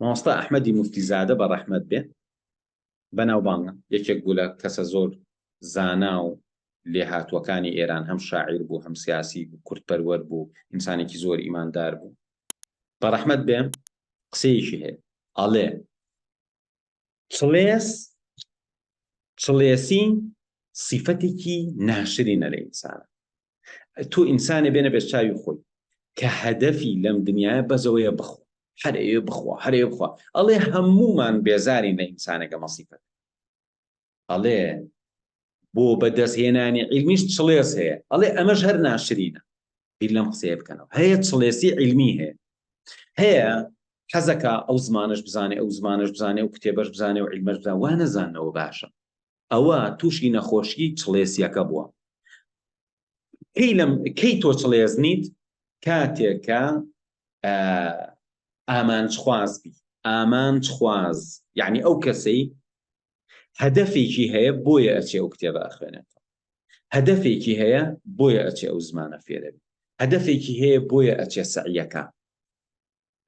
مامۆستا ئەحمەدی موفتی زادە بە ڕەحمەت بێ بەناوبانگە یەکێک بوو لە کەسە زۆر زانا و لێهاتووەکانی ئێران هەم شاعیر بوو هەم سیاسی بوو کوردپەروەر بوو ئینسانێکی زۆر ئیماندار بوو بە ڕەحمەت بێ قسەیەکی هەیە ئەڵێ چڵێس چڵێسی سیفەتێکی ناشرینە لە ئینسان تۆ ئینسانێ بێنە بێت چاوی خۆی کە هەدەفی لەم دنیاە بەزەوەیە بخۆ هەرەیە بخوا هەرەیە بخوا ئەڵێ هەمومان بێزاری لە ئینسانەکە مەسیفەت ئەڵێ بۆ بەدەستهێنانی عیلمیش چڵێس هەیە ئەڵێ ئەمەش هەر ناشرینە بیر لەم قسەیە بکەنەوە هەیە چڵێسی عیلمی هەیە هەیە حەزەکە ئەو زمانش بزانێ ئەو زمانش بزانێ و کتێبەش بزانێ و عیلمەش بزان وا نەزانەوە باشە ئەوە تووشی نەخۆشی چڵێسیەکە بووە کەی لەم کەی تۆ چڵێز نیت کاتێکە ئامانجخواز بی ئامانجخواز یعنی ئەو کەسەی هەدەفێکی هەیە بۆیە ئەچێ ئەو کتێبە ئەخوێنێتەوە هەدەفێکی هەیە بۆیە ئەچێ ئەو زمانە فێرەبی هەدەفێکی هەیە بۆیە ئەچێ سەعیەکە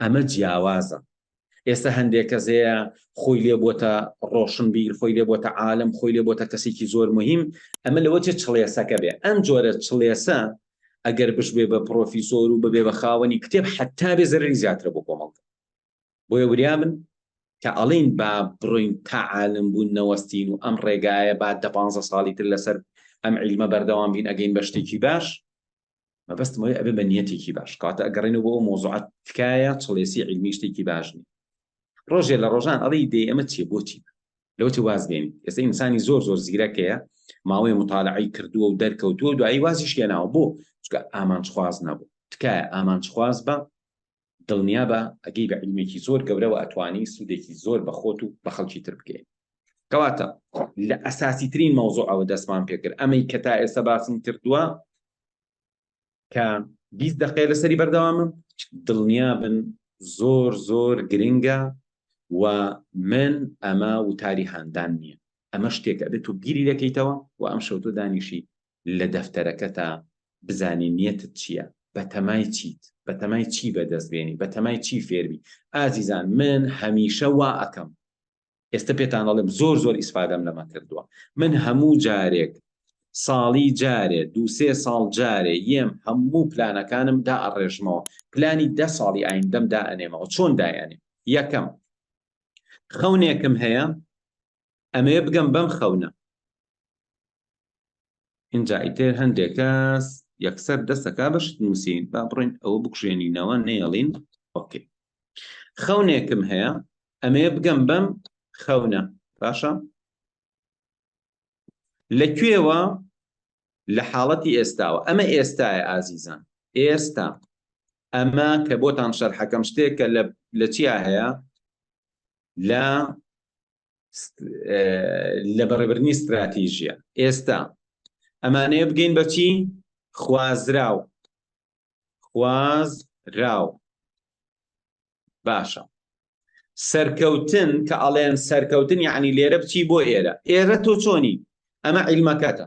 ئەمە جیاوازە ئێستا هەندێک کەس هەیە خۆی لێ بۆتە ڕۆشنبیر خۆی لێ بۆتە عالم خۆی لێ بۆتە کەسێکی زۆر مهم ئەمە لەوە چێ چڵێسەکە بێ ئەم جۆرە چڵێسە ئەگەر بشبێ بە پرۆفیسۆر و ببێ بە خاوەنی کتێب حتا بێ زەرری زیاترە بۆ کۆمەڵگە بۆیە وریا بن کە ئەڵێین با بڕۆین تا عالم بوون نەوەستین و ئەم ڕێگایە با دە پانزە ساڵی تر لەسەر ئەم عیلمە بەردەوام بین ئەگەین بە شتێکی باش مەبەستم ئەوەیە ئەبێ بە نیەتێکی باش کاتە ئەگەڕێنەوە بۆ ئەو مەوزوعە تکایە چڵێسی عیلمی شتێکی باش نییە ڕۆژێ لە ڕۆژان ئەڵێی دێ ئەمە چیە بۆچی لەوتی واز بێنی ئێستا ئینسانی زۆر زۆر زیرەکەیە ماوەی مطالعی کردووە و دەرکەوتووە دوایی وازیش لێناوە بۆ چکە ئامانجخواز نەبوو تکایە ئامانجخواز بە دڵنیابە ئەگەی بە عیلمێکی زۆر گەورەوە ئەتوانی سودێکی زۆر بە خۆت و بە خەڵکی تر بگەیەنی کەواتە لە ئەساسی ترین مەوزوعەوە دەستمان پێکرد ئەمەی کە تا ئێستا باسم کردووە کە بیست دقەیە لەسەری بەردەوامم دڵنیا بن زۆر زۆر گرنگە و من ئەمە وتاری هاندان نییە ئەمە شتێکە دێت و گیری دەکەیتەوە و ئەم شەوتۆ دانیشی لە دەفتەرەکەتا بزانی نیەتت چیە بەتەمای چیت بەتەمای چی بەدەست بێنی بەتەمای چی فێربی ئازیزان من هەمیشە وا ئەکەم ئێستا پێتان ئەڵێم زۆر زۆر ئیسفادەم لەمە کردووە من هەموو جارێک ساڵی جارێ دووسێ ساڵ جارێ یەم هەموو پلانەکانم دا ئەڕێژمەوە پلانی دە ساڵی ئایندەم دا ئەنێمەوە چۆن دایانێ یەکەم خەونێکم هەیە ئەمەوێ بگەم بەم خەونە. ئینجا ئیتر هەندێک کەس یەکسەر دەست دەکا بە شت نووسین، با بڕۆین ئەوە بکوژێنینەوە نەیەڵین ئۆکەی. خەونێکم هەیە ئەمەوێ بگەم بەم خەونە، باشە؟ لە کوێوە؟ لە حاڵەتی ئێستاوە، ئەمە ئێستایە ئازیزان، ئێستا. ئەمە کە بۆتان شەرحەکەم شتێکە لە لە چیا هەیە؟ لە لە بەڕێبرنی ستراتیژیە ئێستا ئەمانەیە بگەین بەچی خوازراو خواز راو باشە سەرکەوتن کە ئەڵێن سەرکەوتن یعنی لێرە بچی بۆ ئێرە ئێرە تۆ چۆنی ئەمە عیلمەکەتە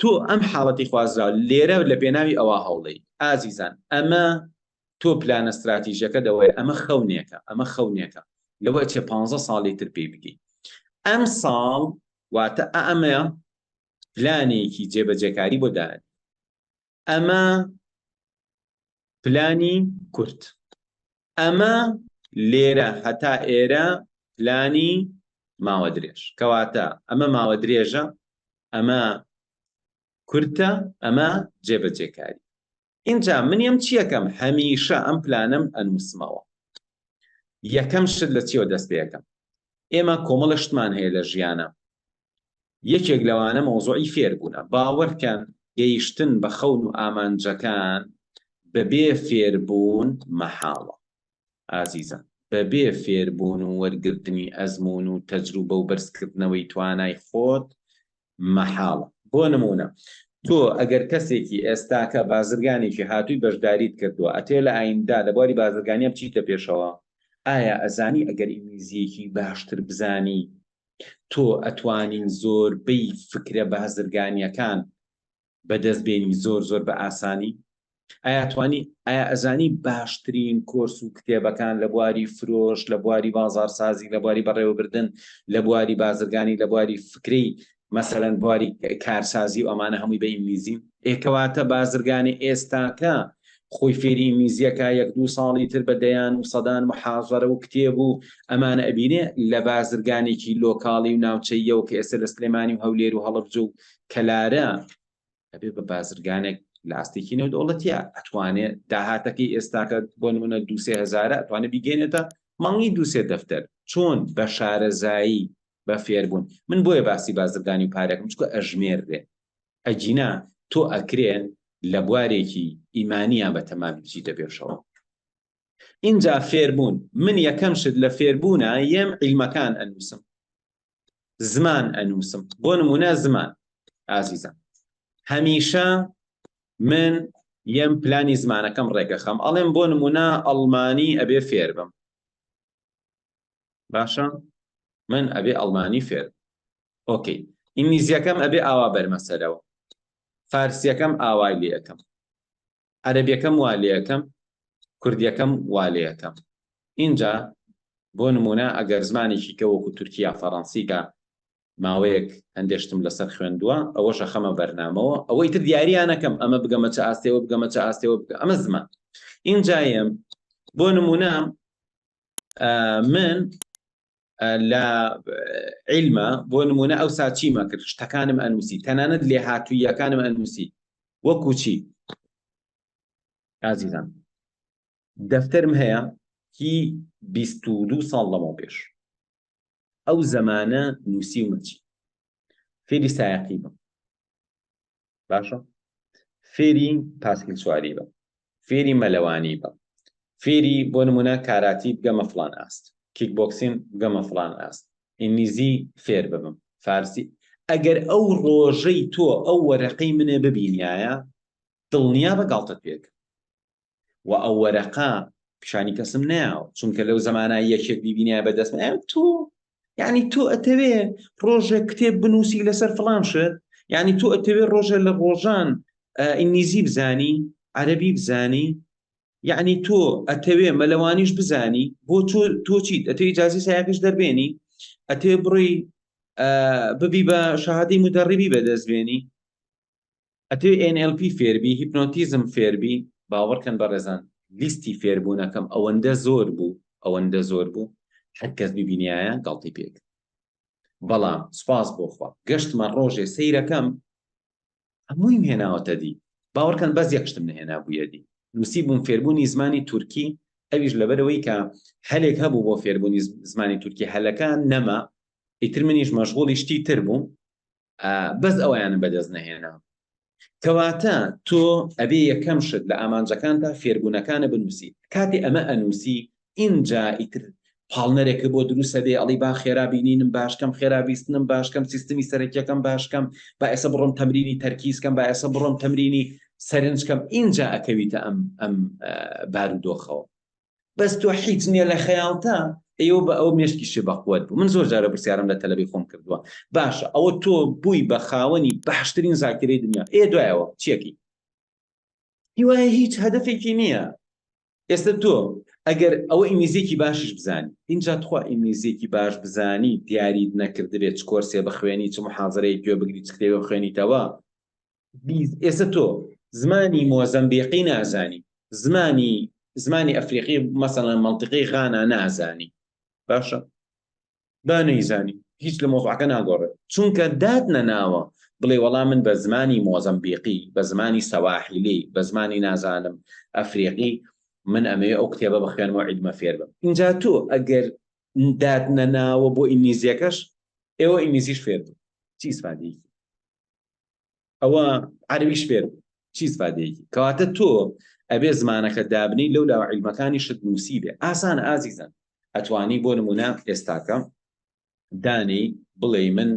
تۆ ئەم حاڵەتی خوازراو لێرە لە پێناوی ئەوا هەوڵدەی ئازیزان ئەمە تۆ پلانە ستراتیژەکە دەوەیە ئەمە خەونێکە ئەمە خەونێکە لەوە چێ پ ساڵی تر پێی بگی ئەم ساڵ واتە ئەمەیە پلانێکی جێبەجێکاری بۆ داێت ئەمە پلانی کورد ئەمە لێرە هەتا ئێرە پلانی ماوە درێژ کەواتە ئەمە ماوە درێژە ئەمە کورتە ئەمە جێبەجێکاری اینجا منیم چیەکەم هەمیشە ئەم پلانم ئەنووسمەوە یەکەم شت لە چیەوە دەست پێەکەم ئێمە کۆمەڵە شتمان هەیە لە ژیانە یەکێک لەوانە مەوزوعی فێربوونە. باوەڕکە گەیشتن بە خەون و ئامانجەکان بەبێ فێربوون مەحاڵە ئازیزان، بەبێ فێربوون و وەرگرتنی ئەزموون و تەجروبە و بەرزکردنەوەی توانای خۆت مەحاڵە. بۆ نموونە تۆ ئەگەر کەسێکی ئێستاکە بازرگانێکی هاتووی بەشداریت کردووە ئەتەوێت لە ئایندە لە بواری بازرگانیا بچیتە پێشەوە ئایا ئەزانی ئەگەر ئینگلیزییەکی باشتر بزانی تۆ ئەتوانین زۆر بەی فکرە بهزرگانیەکان بە دەست بێنی زۆر زۆر بە ئاسانی ئایا توانی ئایا ئەزانی باشترین کۆرس و کتێبەکان لە بواری فرۆش لە بواری بازارسازی لە بواری بەڕێوەبردن لە بواری بازرگانی لە بواری فکری مەسەرەن بواری کارسازی و ئەمانە هەمووی بە ئینگلیزی ئێکەواتە بازرگانی ئێستاکە خۆی فێری ئینگلیزیەکا یەک دوو ساڵی تر بە دەیان و سەدان محازەرە و کتێب و ئەمانە ئەبینێ لە بازرگانێکی لۆکاڵی و ناوچەییەوە کە ئێستا لە سلێمانی و هەولێر و هەڵەبجە و کەلارە ئەبێ بە بازرگانێک لە ئاستێکی نێودەوڵەتیە ئەتوانێ داهاتەکەی ئێستاکە بۆ نمونە دوسێ هزارە ئەتوانە بیگەێنێتە مانگی دوسێ دەفتەر چۆن بە شارەزایی بە فێربوون من بۆیە باسی بازرگانی و پارێکم چکە ئەژمێردێ ئەگینا تۆ ئەکرێ لە بوارێکی ئیمانیا بە تەمامی بچیتە پێشەوە ئینجا فێربوون من یەکەم شت لە فێربوونا یەم عیلمەکان ئەنووسم زمان ئەنووسم بۆ نمونە زمان ئازیزم هەمیشە من یەم پلانی زمانەکەم ڕێگەخەم ئەڵێم بۆ نمونە ئەڵمانی ئەبێ فێربم باشە من ئەبێ ئەڵمانی فێر ئۆکەی ئینگلیزیەکەم ئەبێ ئاوا بەرمەسەرەوە فارسیەکەم ئاوای لەکەم عەربیەکەم وا لەکەم کوردیەکەم وا لەکەم اینجا بۆ نمونە ئەگەر زمانێکی کە وەکو تورکیا فەڕەنسیکە ماوەیەک هەندێشتم لەسەر خوێندووە ئەوە شەخەمە بەرنامەوە ئەوەی تر دیاریانەکەم ئەمە بگەمە چ ئاستەوە بگەمە چ ئاستەوە بگە ئەمە زمان اینجایم بۆ نمونە من لە عیلمە بۆ نمونە ئەو ساچیمە کرد شتەکانم ئەنووسی تەنانەت لێ هاتوویەکانم ئەنووسی وەکوچی ئازیزان دەفتەرم هەیە هی 22 ساڵ لەمە پێش ئەو زەمانە نووسیومە چی فێری سایەقی بم باشە فێری پاسکیل سواری بە فێری مەلەوانی بە فێری بۆ نمونە کاراتی بگەمە فلان ئاست کیک بۆکسین بگەمە فلان ئاست ئینگلیزی فێر ببم فارسی ئەگەر ئەو ڕۆژەی تۆ ئەو وەرەقەی منێ ببینایە دڵنیا بە گاڵتەت پێکە و ئەو وەرەقە پیشانی کەسم ناو چونکە لەو زمانە یەکێک بیبینای بەدەست ئەم تۆ یعنی تۆ ئەتەوێ ڕۆژێک کتێب بنووسی لەسەر فلان شت یعنی تۆ ئەتەوێ ڕۆژێ لە ڕۆژان ئینگلیزی بزانی عەربی بزانی یعنی تۆ ئەتەوێ مەلەوانیش بزانی بۆ تۆ تۆچیت ئەتەوی جازی سایقش دەربێنی ئەتێ بڕی ببی بە شەهادی مدەڕیبی بەدەستبێنی ئەتەوێ ئێن ئێل پی فێربی هیپنۆتیزم فێربی باوەڕکەن بەڕێزان لیستی فێربوونەکەم ئەوەندە زۆر بوو ئەوەندە زۆر بوو هەرکەس ببینیایە گاڵتەی پێکرد بەڵام سوپاس بۆ خوا گەشتمە ڕۆژێ سەیرەکەم هەموویم هێناوەتە دی باوەڕکەن بەس یەک شتم نەهێنا بوویە دی نووسی بووم فێربوونی زمانی تورکی ئەویش لەبەرەوەی کە هەلێک هەبوو بۆ فێربوونی زمانی تورکی هەلەکان نەما ئیتر منیش مەشغوڵی شتی تر بووم بەس ئەوەیانم بەدەست نەهێنا کەواتە تۆ ئەبێ یەکەم شت لە ئامانجەکانتا فێربوونەکانە بنووسی کاتی ئەمە ئەنووسی ئینجا ئیتر پاڵنەرێکە بۆ دروستە بێ ئەڵی با خێرا بینینم باشکەم خێرا بیستنم باشکەم سیستمی سەرەکیەکەم باشکەم با ئێسە بڕۆم تەمرینی تەرکیزکەم با ئێسە بڕۆم تەمرینی سەرنجکەم ئینجا ئەکەویتە ئەم ئەم بارودۆخەوە بەس تۆ حیچ نیە لە خەیاڵتا ئێوە بە ئەو مێشکی شێ بەقوەت بوو من زۆر جارە پرسیارم لە تەلەبی خۆم کردووە باشە ئەوە تۆ بووی بە خاوەنی باشترین زاکرەی دنیا ئێ دوایەوە چیەکی هیوایە هیچ هەدفێکی نییە ئێستا تۆ ئەگەر ئەوە ئینگلیزیێکی باشش بزانانی اینجا تخوا ئینگلیزیێکی باش بزانی دیاریت نەکردبێت چ کۆرسێ بخوێنی چ محازرەیە گوێ بگری چ کتێبە خوێنیتەوە ئێستا تۆ زمانی مۆزەمبیقی نازانی زمانی زمانی ئەفریقی مەسەڵەن مەڵتقی غانا نازانی باشە با نەیزانی هیچ لە مۆزعەکە ناگۆڕێت چونکە دات نەناوە بڵێ وەڵام من بە زمانی مۆزەمبیقی بە زمانی سەواحیلی بە زمانی نازانم ئەفریقی من ئەمەوێ ئەو کتێبە بخوێنەوە عیدمە فێر بم اینجا تۆ ئەگەر دات نەناوە بۆ ئینگلیزیەکەش ئێوە ئینگلیزیش فێر بوو چی سپادی ئەوە عەربیش فێر چی سفادەیەکی کەواتە تۆ ئەبێ زمانەکە دابنی لەو لاوە عیلمەکانی شت نووسی بێ ئاسان ئازیزن ئەتوانی بۆ نمونە ئێستاکەم دانی بڵێ من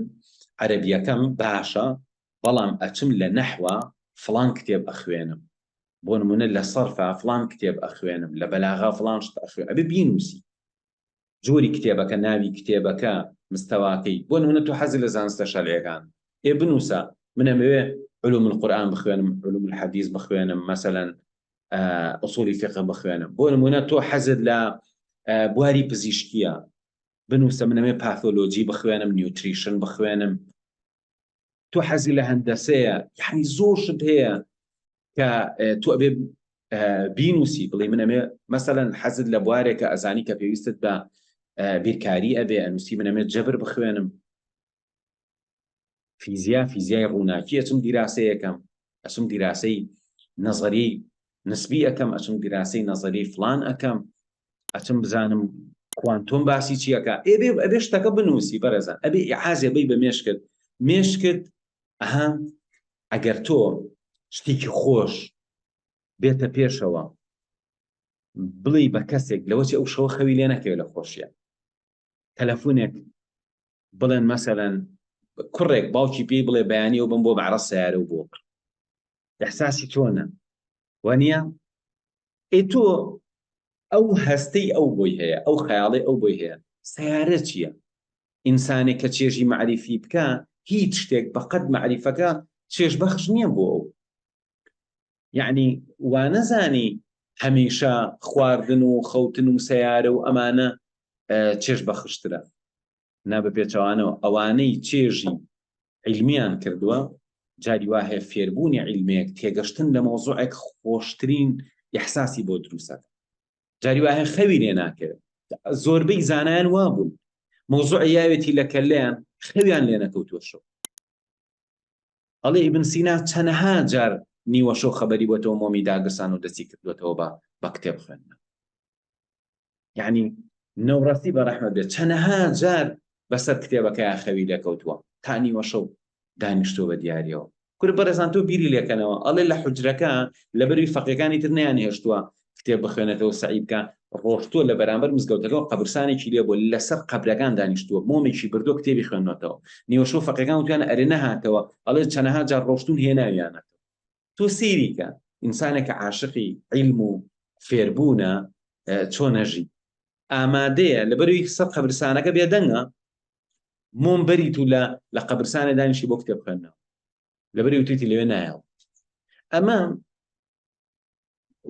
عەربیەکەم باشە بەڵام ئەچم لە نەحوە فلان کتێب ئەخوێنم بۆ نمونە لە سەرفا فلان کتێب ئەخوێنم لە بەلاغا فلان شت ئەخوێن ئەبێ بینوسی جۆری کتێبەکە، ناوی کتێبەکە، مستەواکەی، بۆ نموونە تۆ حەزت لە زانستە شەرعیەکان، ئێ بنووسە من ئەمەوێ علوم القرآن بخوێنم، علوم الحدیث بخوێنم، مەسەلا اصول فقه بخوێنم، بۆ نموونە تۆ حەزت لە بواری پزیشکیە، بنووسە من ئەمەوێ پاثۆلۆجی بخوێنم، نیوتریشن بخوێنم، تۆ حەزی لە هەندەسەیە یعنی زۆر شت هەیە کە تۆ ئەبێ بینوسی بڵێ منەمێ مەسەەن حەزت لە بوارێکە ئەزانی کە پێویستت بە بیرکاری ئەبێ ئەنووسی منەمێت جەبر بخوێنم فیزیا فیزیای ڕووناکی ئەچم دیراسەیەکەم ئەسم دیراسەی نەزەری نسبی ئەکەم ئەچم گراسەی نەزەریەی فڵان ئەکەم ئەچم بزانم کوانتۆم باسی چیەکە ئێبێ ئەبێ شتەکە بنووسی بەڕێزان ئەبێ ئعازێ بی بە مێشکت مێشکت ئەها ئەگەر تۆ شتێکی خۆش بێتە پێشەوە بڵێ بە کەسێک لەوەچ ئەو شەوە خەوی لێ نەکەوێت لە خۆشیە تەلەفونێک بڵێن مەسەلەن کوڕێک باوکی پێی بڵێ بەیانیەوە بم بۆ بەعرە سیارە و بۆ دەحساسی تۆنە وەنیە ئەی تۆ ئەو هەستەی ئەو بۆی هەیە ئەو خەیاڵی ئەو بۆی هەیە سیارە چییە ئینسانێک کە چێژی معریفی بکە هیچ شتێک بەقەت معریفەکە چێژ بەخش نییە بۆ ئەو یەعنی وانەزانی هەمیشە خواردن و خەوتن و سەیارە و ئەمانە چێژ بەخشترە نا بە پێچەوانەوە ئەوانەی چێژی عیلمیان کردووە جاری وا هەیە فێربوونی عیلمێک تێگەشتن لە مۆزوعێک خۆشترین یحساسی بۆ دروسە جاری وا هەیە خەوی لێ ناکەوێت زۆربەی زانایان وا بوون مۆزوع یاوێتی لە کەلەیان خەویان لێ نەکەوتوەشەوە ئەڵێ ئیبن سینا چەنەها جار نیوەشەو خەبەری بۆتەوە مۆمی داگرسان و دەستی کردوەتەوە بە بە کتێب خوێندن یعنی نەوڕەسی بە ڕەحمە بێت چەنەها جار بەسەر کتێبەکەیان خەوی لەکەوتووە تا نیوەشەو دانیشتۆ بە دیارەوە کورە بەڕێزان تۆ بیری لێکەنەوە ئەڵێ لە حجرەکە لە بەروی فەقەکانی تر نیان هێشتووە کتێب بخوێنێتەوە سەعی بکە ڕۆشتووە لە بەرامبەر مزگەوتەکە و قەبرسانێکی لێ بووە لەسەر قەبرەکان دانیشتووە مۆمێکی بردووە کتێبی خوێندنەوەتەوە نیوەشەو فەقێکان وتویانە ئەرێ نەهاتەوە ئەڵێ چەندەها جار ڕۆشتوون هێناویانە تۆ سەیری کە ئینسانێکە عاشقی عیلم و فێربوونە چۆنە ژی ئامادەیە لەبەروی سەر قەبرسانەکە بێدەنگە مۆم بەریت و لە لە قەبرسانێ دانیشی بۆ کتێب خوێندنەوە لەبری وتیتی لەوێ نایەوە ئەمە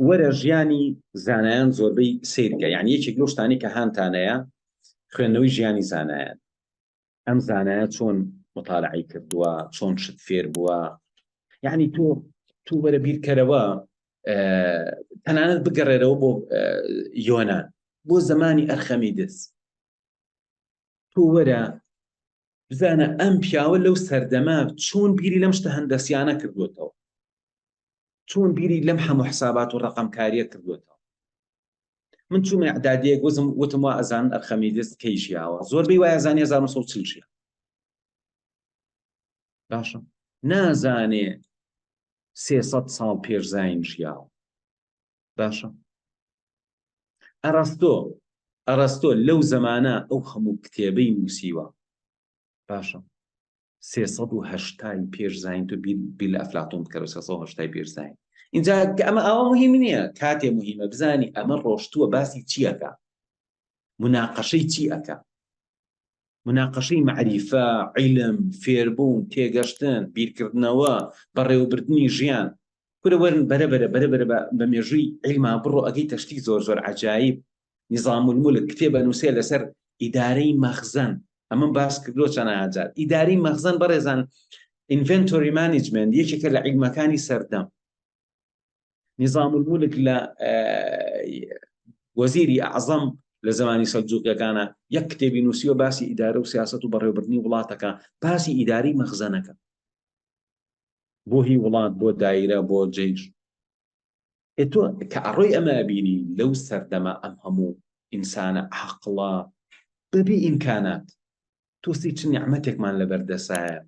وەرە ژیانی زانایان زۆربەی سیرکە یان یەکێک لەو شتانی کە هاانتانەیە خوێندنەوەی ژیانی زانایان ئەم زانایە چۆن مطالعی کردووە چۆن شت فێر بووە یعنی تۆ تو وەرە بیرکەرەوە تەنانەت بگەڕێرەوە بۆ یۆناان بۆ زمانی ئەرخەمی دەست تۆ وەرە بزانە ئەم پیاوە لەو سەردەمە چۆن بیری لەم شتە هەندەسیانە کردوێتەوە چۆن بیری لەم هەموو حسابات و ڕقمکاریە کردوێتەوە من چوومە عدادیە گوزم وتم وا ئەزان ئەرخەمی دەست کەی ژیاوە زۆر بی وایە زانانی 1940 ژیان باشە نازانێ سێسەد ساڵ پێش زین ژیاوە باشە ئەڕاستۆ ئەڕاستۆ لەو زەمانە ئەو هەموو کتێبەی نووسیوە باشە سێهشتای پێش زین تو بیل ئەفلاتۆن بکەەوە سێهشتای پێش زین اینجا ئەمە ئەوە مهم نییە کاتێ مهمە بزانی ئەمە ڕۆشتووە باسی چیەکە مناقەشەی چی ئەەکە موناقەشەی مەعریفە، عیلم، فێربوون، تێگەشتن، بیرکردنەوە، بەڕێوەبردنی ژیان. کورە وەرن بەرە بەرە بەرە بەرە بە مێژووی عیلما بڕۆ ئەگەیتە شتی زۆر زۆر عەجایب، نظام الملک، کتێب ئەنووسێ لەسەر ئیدارەی مەخزەن، ئەمەم باس کردووە چەناها جار. ئیدارەی مەخزەن بەڕێزان، Inventory Management، یەکێکە لە عیلمەکانی سەردەم. نظام الملک لە وەزیری ئەعظەم لە زمانی سەلجوقیەکانە یەک کتێبی نووسیوە باسی ئیدارە و سیاست و بەڕێوبردننی وڵاتەکە باسی ئیداری مەخزەنەکە بۆ هی وڵات بۆ دایرە بۆ جەیش تۆ کە ئەڕۆی ئەمە بینی لەو سەردەمە ئەم هەموو ئینسانە عقڵە بەبی ئینکانات تووسی چ نیعمەتێکمان لەبەر دەسایە،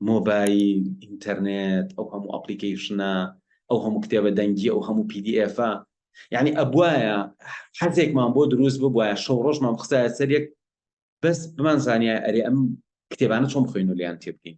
مۆبایل، ئینتەرنێت، ئەو هەموو ئەپڵیکەیشنە، ئەو هەموو کتێبە دەنگییە، ئەو هەموو پی دی ئێفە. یەعنی ئەبوایە حەزێکمان بۆ دروست ببوایە، شەو ڕۆژمان بخستایە سەر یەک، بەس بمانزانیایە ئەرێ ئەم کتێبانە چۆن بخۆین و لێیان تێبگەین.